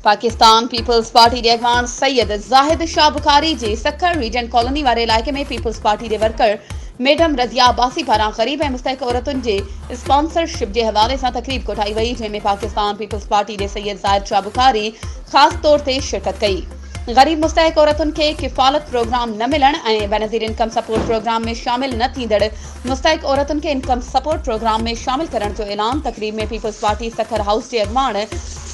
پاڪستان پيپلز پارٽي جي اڳواڻ سيد زاهد شاهه بخاري جي سکر ريجنٽ ڪالوني واري علائقي ۾ پيپلز پارٽي جي ورڪر ميڊم رضيا عباسي پاران غريب ۽ مستحق عورتن جي اسپانسرشپ جي حوالي سان تقريب ڪوٺائي وئي جنهن ۾ پاڪستان پيپلز پارٽي جي سيد زاهد شاهه بخاري خاص طور تي شرڪت ڪئي غريب مستحق عورتن کي ڪفالت پروگرام نه ملڻ ۽ بينظير انڪم سپورٽ پروگرام ۾ شامل نه ٿيندڙ مستحق عورتن کي انڪم سپورٽ پروگرام ۾ شامل ڪرڻ جو اعلان تقريب ۾ پيپلز پارٽي سکر هائوس جي اڳواڻ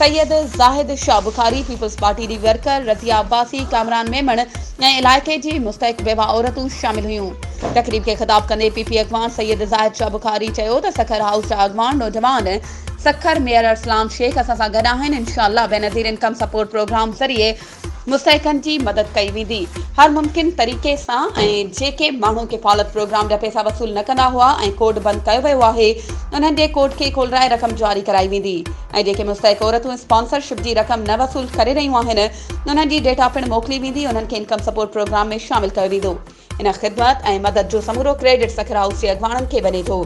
سيد زاهد شاهه بخاري، پيپلز پارٽي جي ورڪر رضيه عباسي، ڪامران ميمڻ ۽ علائقي جي مستحق بيوه عورتون شامل هيون. تقريب کي خطاب ڪندي پي پي اڳواڻ سيد زاهد شاهه بخاري چيو ته سکر هائوس جا اڳواڻ نوجوان سکر ميئر ارسلان شيخ اسان سان گڏ آهن انشاء الله بينظير انڪم سپورٽ پروگرام ذريعي مستحقن جي مدد ڪئي ويندي هر ممڪن طريقي سان ۽ جيڪي ماڻهو ڪفالت پروگرام جا پيسا وصول نه ڪندا هئا ۽ ڪوڊ بند ڪيو ويو آهي انهن جي ڪوڊ کي کولرائي رقم جاري ڪرائي ويندي ۽ جيڪي مستحق عورتون اسپانسر شپ جي رقم نه وصول ڪري رهيون آهن انهن جي ڊيٽا پڻ موڪلي ويندي انهن کي انڪم سپورٽ پروگرام ۾ شامل ڪيو ويندو. ان خدمت ۽ مدد جو سمورو ڪريڊٽ سکر هائوس جي اڳواڻن کي وڃي ٿو،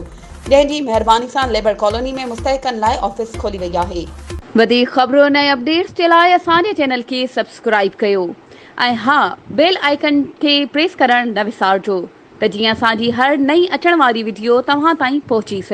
جنهن جي مهرباني سان ليبر ڪالوني ۾ مستحقن لاء آفيس کولي وئي آهي. وڌيڪ خبرن ۽ اپڊيٽس جي لاء اسان جي چينل کي سبسڪرائيب ڪيو ۽ ها بيل آئيڪن کي پريس ڪرڻ نه وسارجو ته جيئن اسان جي هر نئين اچڻ واري وڊيو توهان تائين پهچي سگهي.